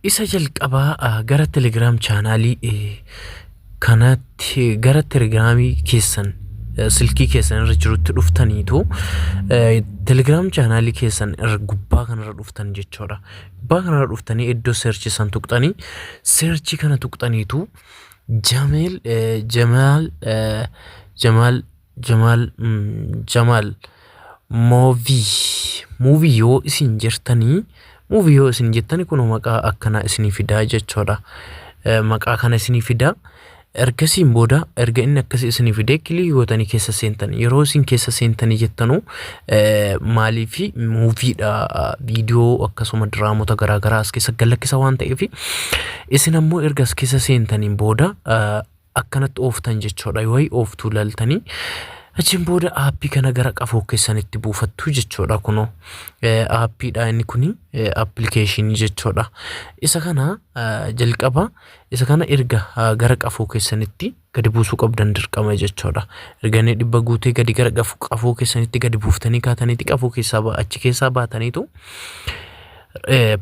Isa jalqabaa ah, gara Telegram chaanaalii eh, kanatti gara Telegram keessan eh, silkii keessan irra jirutti dhuftaniitu eh, Telegram chaanaalii keessan irra gubbaa kanarra dhuftan jechuudha. Gubbaa kanarra dhuftanii iddoo seerchi san tuqxanii seerchi kana tuqxaniitu Jameel eh, Jamaal eh, Jamaal Jamaal Jamaal moovii muuvii yoo isin jirtanii muuvii yoo isin jettani kun maqaa akkanaa isinii fidaa jechuudha. Eh, Maqaa kana isinii fidaa ergasiin booda erga inni akkasii isinii fidee kilii gootanii keessa seentan yeroo isin keessa seentanii jettanu eh, maalii fi muuviidha viidiyoo akkasuma diraamota garaagaraa as keessa galakkisa waan ta'eef isin ammoo erga as keessa seentaniin booda eh, akkanatti ooftan jechuudha yoo ooftuu laltanii achiin booda aappii kana gara qafoo keessanitti buufattu jechuudha kunoo Eh, aappiidha inni kuni eh, appilikeeshinii jechuudha isa kana eh, jalqaba isa kana erga eh, gara qafoo keessanitti gadi buusuu qabdan dirqama jechuudha erga inni dhibba guutee gadi gara qaf- qafoo keessanitti gadi buuftanii kaataniiti qafoo keessaa ba- achi keessaa baataniitu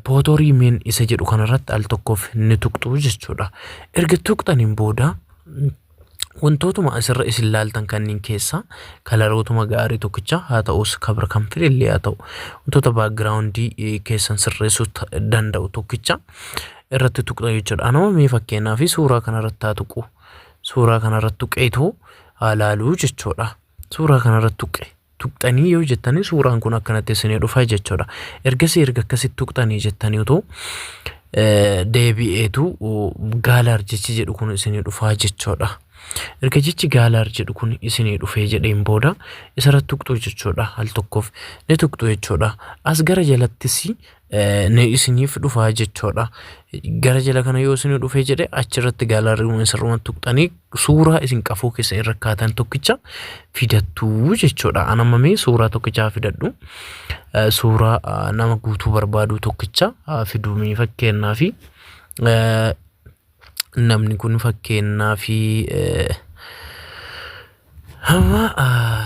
pootorii meen isa jedhu kanarratti al tokkoof ni tuqxu jechuudha. Erga tuqxaniin booda wantootuma asirra isin laaltan kanneen keessaa kalarootuma gaarii tokkicha haa ta'us kabra kan fide illee haa ta'u wantoota baagiraawundii keessan sirreessuu danda'u tokkicha irratti tuqxa jechuudha. Anuma mee fakkeenyaa fi suuraa kanarratti haa tuqu. Suuraa kanarratti tuqeetu haa laaluu jechuudha. Suuraa kanarratti tuqe. tuqxanii yoo jettanii suuraan kun akkanatti isinii dhufa jechuudha. Ergasii erga akkasitti tuqxanii jettanii utuu eh, deebi'eetu uh, gaalaar jechi jedhu kun isinii dhufaa jechuudha. Erga jechi gaalaar jedhu kun isinii dhufee jedheen booda isarratti tuqxuu jechuudha al tokkoof ni tuqxu jechuudha. As gara jalattis ni isiniif dhufaa jechuudha. Gara jala kana yoo isin dhufee jedhe achirratti gaalaariiwwan sirrumatti tuqxanii suuraa isin qafoo keessa irra kaatan tokkicha fidattuu jechuudha. An amma mee suuraa tokkichaa fidadhu. Eh, Suuraa ah, nama guutuu barbaadu tokkicha ah, fiduu mee fakkeenyaa fi eh, namni kun fakkeenyaa fi amma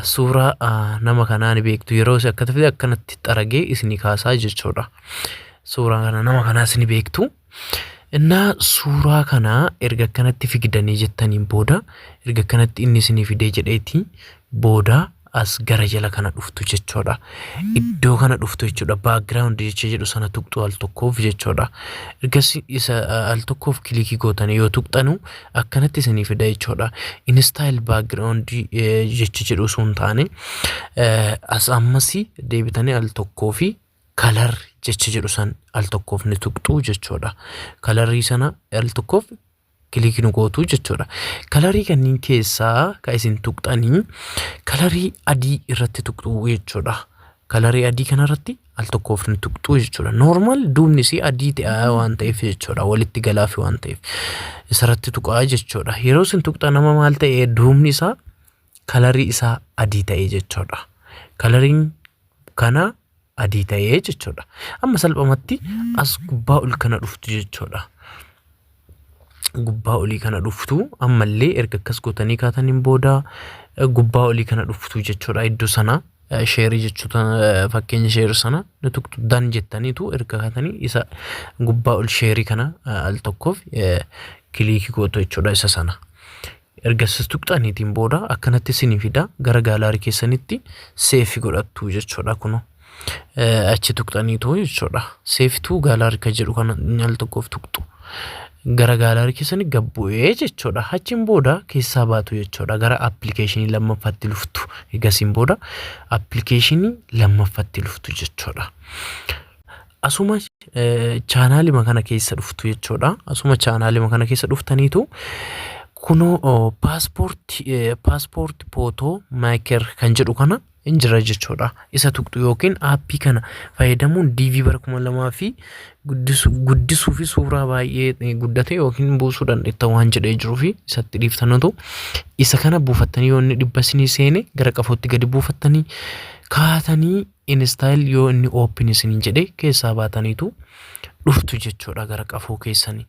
suuraa nama kanaa ni beektu yeroo isin akkatti fide akkanatti xaragee isinii kaasaa jechuudha. Suuraa kana nama kanaas ni beektu. Innaa suuraa kana erga akkanatti figdanii jettaniin booda erga akkanatti inni isinii fidee jedheeti booda as gara jala kana dhuftu jechuudha. Iddoo kana dhuftu jechuudha. Background jecha jedhu sana tuqxu al tokkoof jechuudha. Ergasii isa uh, al tokkoof kilikii gootanii yoo tuqxanu akkanatti isinii fida jechuudha. In style background eh, jecha jedhu osoo hin taane eh, as ammasii deebitanii al tokkoo fi kalar jecha jedhu san al tokkoof ni tuqxu jechuudha. Kalarii sana al tokkoof kiliikii nu gootu jechuudha. Kalarii kanneen keessaa kan isin tuqxanii kalarii adii irratti tuqxuu jechuudha. Kalarii adii kanarratti al tokkoof ni tuqxuu jechuudha. Noormaal duubni isii adii ta'aa waan ta'eef jechuudha. Walitti galaafi waan ta'eef isarratti tuqaa jechuudha. Yeroo isin tuqxan nama maal ta'e duubni isaa kalarii isaa adii ta'e jechuudha. Kalariin kana adii ta'ee jechuudha. Amma salphumatti as gubbaa ol kana dhuftu jechuudha. Gubbaa olii kana dhuftu ammallee erga akkas gootanii kaataniin booda eh, gubbaa olii kana dhuftu jechuudha iddoo sana eh, sheerii jechuudha eh, fakkeenya sheerii sana ni tuqxu dan jettaniitu erga kaatanii isa gubbaa ol sheerii kana eh, al tokkoof eh, kiliikii gootu jechuudha isa sana. Erga sis tuqxaniitiin booda akkanatti isinii fida gara gaalaarii keessanitti seefi godhattu jechuudha kuno. Achi tuqxaniitu jechuudha. Seefituu gaalaarii kan jedhu kana al tokkoof tuqxu. Gara gaalaarii keessanii gad bu'ee jechuudha. Achiin booda keessaa baatu jechuudha. Gara appilikeeshinii lammaffaatti luftu. Eegasiin booda appilikeeshinii lammaffaatti luftu jechuudha. Asuma chaanaalima kana keessa dhuftu jechuudha. Asuma chaanaalima kana keessa dhuftaniitu kunoo paaspoortii paaspoortii pootoo maayiker kan jedhu kana hin jira jechuudha. Isa tuqxu yookiin aappii kana fayyadamuun DV bara kuma lamaa fi guddisuu fi suuraa baay'ee guddate yookiin buusuu dandeetta waan jedhee jiruu fi isatti dhiiftanutu isa kana buufattanii yoo inni dhibba isinii seene gara qafootti gadi buufattanii kaatanii Install yoo inni open isiniin jedhe keessaa baataniitu dhuftu jechuudha gara qafoo keessanii.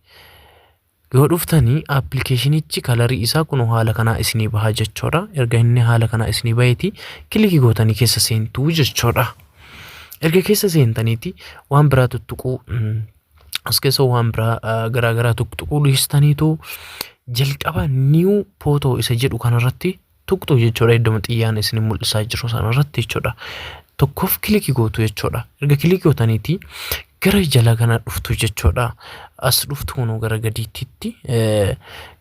Yoo dhuftanii appilikeeshinichi kalarii isaa kun haala kanaa isinii baha jechuudha. Erga inni haala kanaa isinii baheeti kilikii gootanii keessa seentuu jechuudha. Erga keessa seentaniiti waan biraa tuttuquu as keessa waan biraa garaagaraa tuttuquu dhiistaniitu jalqaba niiw pootoo isa jedhu kanarratti tuqxu jechuudha iddoma xiyyaan isin mul'isaa jiru sana irratti jechuudha. Tokkoof kilikii gootu jechuudha. Erga kilikii gootaniiti gara jala kana dhuftu jechuudha. As dhuftu kunuu gara gadiitti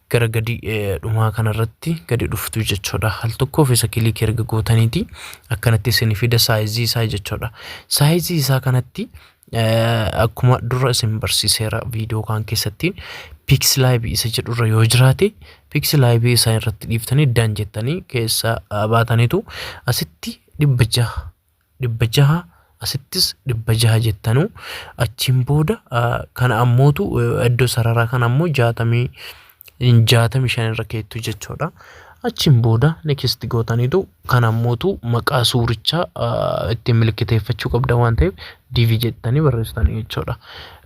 gara gadi dhumaa kanarratti gadi dhuftu jechuudha. Al tokkoof isa kilikii erga gootaniiti akkanatti isin fida saayizii isaa jechuudha. Saayizii isaa kanatti akkuma dura isin barsiiseera viidiyoo kaan keessatti piiksilaayibii isa jedhurra yoo jiraate piiksilaayibii isaa irratti dhiiftanii dan jettanii keessa baataniitu asitti dhibba jaha dhibba jaha asittis dhibba jaha jettanu achiin booda kana ammootu iddoo sararaa kana ammoo jaatamii 65 irra keettu jechuudha. Achiin booda next gootaniitu kan ammootu maqaa suurichaa ittiin milkiteeffachuu qabda waan ta'eef divi jettanii barreessitanii jechuudha.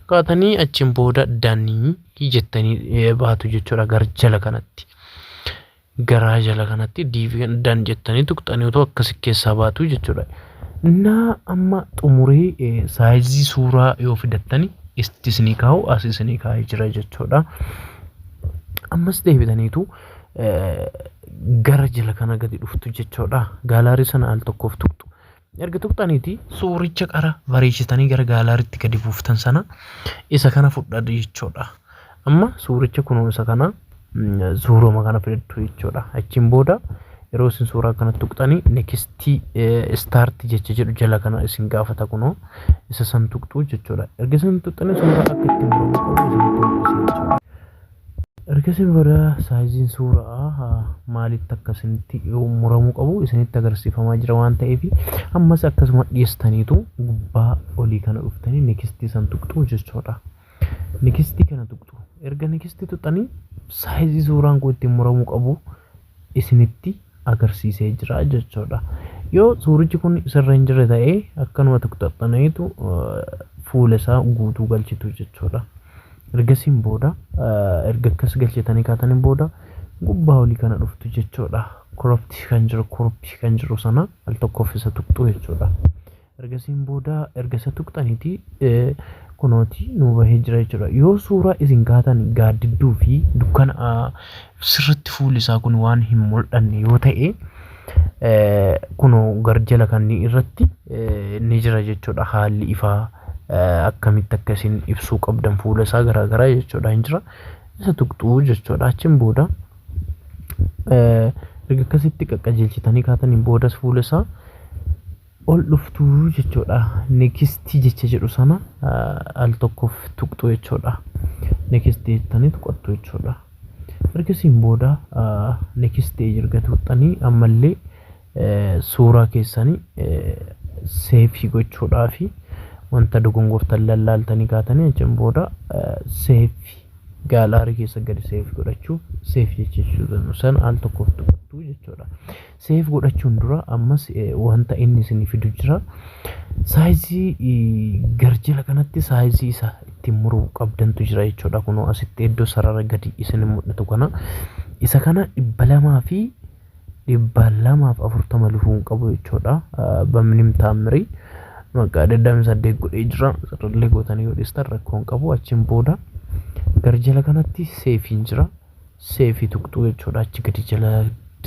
Kaatanii achiin booda danii jettanii baatu jechuudha gara jala kanatti. garaa jala kanatti diivi kan dan jettanii tuqxanii otoo akkasi keessaa baatu jechuudha. Naa amma xumuree eh, saayizii suuraa yoo fidattani isti isinii kaa'u as isinii kaa'ee jira jechuudha. Ammas deebitaniitu eh, gara jala kana gadi dhuftu jechuudha. Gaalaarii sana al tokkoof tuqxu. Erga tuqxaniiti suuricha qara bareechitanii gara gaalaariitti gadi buuftan sana isa kana fudhaa jechuudha. Amma suuricha kunoo isa kana suuruma kana fidattu jechuudha. Achiin booda yeroo isin suuraa kana tuqxanii nekistii istaarti jecha jedhu jala kana isin gaafata kunoo isa san tuqxuu jechuudha. Erga isin tuqxanii suuraa akka ittiin muramu qabu isin tuqxuu jechuudha. Ergasii booda saayiziin suura'aa maalitti akka isinitti muramuu qabu isinitti agarsiifamaa jira waan ta'eef ammas akkasuma dhiistaniitu gubbaa olii kana dhuftanii nikistii san tuqxuu jechuudha. Nikistii kana tuqxu erga nikistii tuqxanii saayizii suuraan kun ittiin muramuu qabu isinitti agarsiisee jira jechuudha. Yoo suurichi kun sirra hin jirre ta'e akkanuma tuqxaxxaneetu fuula isaa guutuu galchitu jechuudha. Ergasiin booda erga akkas galchitanii kaataniin booda gubbaa olii kana dhuftu jechuudha. Koropti kan jiru koropti kan jiru sana al tokkoof isa tuqxu jechuudha. Ergasiin booda erga isa tuqxaniti kunooti nuu bahee jira jechuudha. Yoo suuraa isin kaatan gaaddidduu fi dukkana sirritti fuulli isaa kun waan hin mul'anne yoo ta'e kunoo garjala kan irratti ni jira jechuudha haalli ifaa akkamitti akka isin ibsuu qabdan fuula isaa garaa garaa jechuudha hin jira. Isa tuqxuu jechuudha achiin booda erga akkasitti qaqqajeelchitanii kaataniin boodas fuula isaa ol dhuftu jechuudha. Next jecha jedhu sana al tokkoof tuqxu jechuudha. Next jettanii tuqattu jechuudha. Ergasiin booda next erga tuqxanii ammallee suuraa keessanii seefii gochuudhaa fi wanta dogongortan lallaaltanii kaatanii achiin booda seefi gaalaarii keessa gadi seef godhachuu seef jechuu sana al tokkoof tuqattu jechuudha. Save godhachuun dura ammas wanta inni isin fidu jira. Saayizii garjila kanatti saayizii isa ittiin muruu qabdantu jira jechuudha. Kunoo asitti iddoo sarara gadi isin mul'atu kana. Isa kana dhibba lamaa fi dhibba lamaaf afurtama lufuun qabu jechuudha. Bamnim taammirii maqaa digdamii saddeet godhee jira. Sararlee gootanii yoo dhistan rakkoon qabu achiin booda garjila kanatti seefiin jira. seefii tuqxuu jechuudha achi gadi jala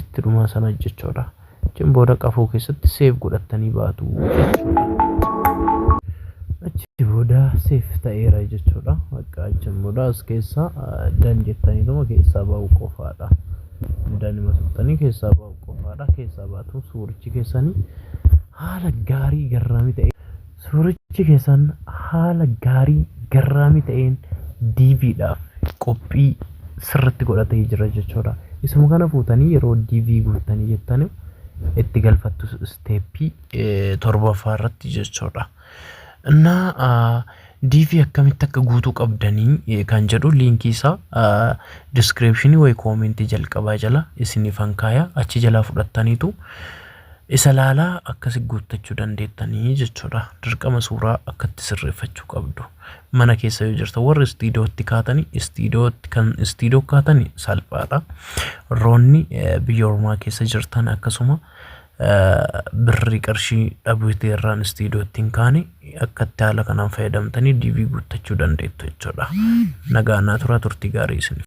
itti dhumaa sana jechuudha achiin booda qafoo keessatti seef godhattanii baatu achi booda seef ta'eera jechuudha bakka achiin booda as keessaa dan jettanii dhuma keessaa ba'u qofaadha danima tuqxanii keessaa ba'u qofaadha keessaa baatu suurichi keessanii haala gaarii garraamii ta'e Suurichi keessan haala gaarii garraamii ta'een DV dhaaf qophii sirriitti godhatee jira jechuudha. Isuma kana fuutanii yeroo DV guuttanii jettanii itti galfattu isteeppii torbaffaa irratti jechuudha. Innaa DV akkamitti akka guutuu qabdanii kan jedhu liinkii isaa diskiriipshinii wayi koomentii jalqabaa jala isiniif hankaaya achi jalaa fudhattaniitu Isa laalaa akkasi guuttachuu dandeettanii jechuudha. Dirqama suuraa akkatti sirreeffachuu qabdu. Mana keessa yoo jirta warri istiidootti kaatani istiidootti kan istiidoo kaatani salphaadha. Roonni biyya ormaa keessa jirtan akkasuma birri qarshii dhabuuti irraan istiidootti hin kaane akkatti haala kanaan fayyadamtanii diivii guuttachuu dandeettu jechuudha. Nagaa naa turaa turtii gaarii isin.